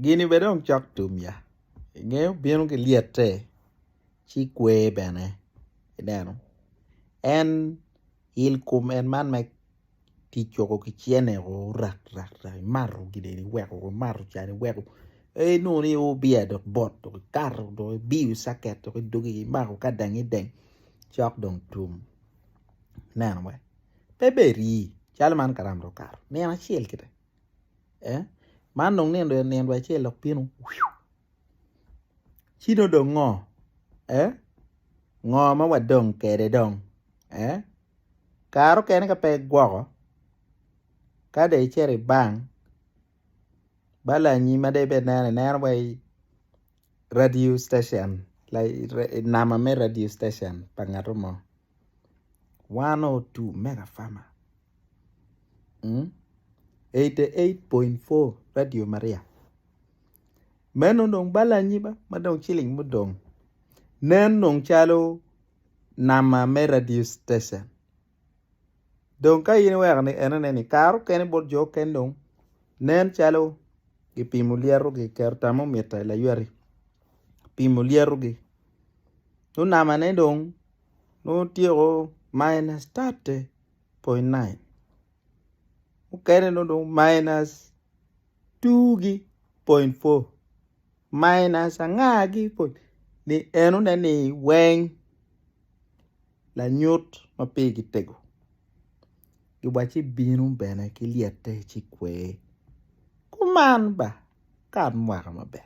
Gini bene dong cok tum ya ingeyo bino ki lyete ci kwer bene ineno en il kom en man ma kicogo ki cene o rak rak rak imato gin eni iweko imato can iweko ee inongo ni o biya dok bot dok ikato dok ibiyo caket dok idogi imako ka dang ideng cok dong tum ineno wee pe ber ii calo man kalam dong okato nino acel kede. man dong nino dong nino dong acel dok bino ci nongo dong ngo eh ngo ma wadong kwede dong eh kare mukene ka pe igwoko ka dong icito i bank bala lanyi ma dong ibed ineno ineno wai radio station nama me radio station pa ngato mo. one or two mega pharma eighty eight point four radio maria meno dong bal anyiba ma dong ciling mudong nen dong calo nama me radio station dong ka in iweko ni enone ni kare okene bot jo okene dong nen calo kipimo lyerogi kiketo termometer i laywati kipimo lyerogi nongo namane dong nongo otyeko minus thirty point nine mukene nongo dong minus two gi point four minus anga gi point ni enone ni weng lanyut ma pigi tego wa ci bino bene ki lyete ci kwer kuman ba kat mwaka maber.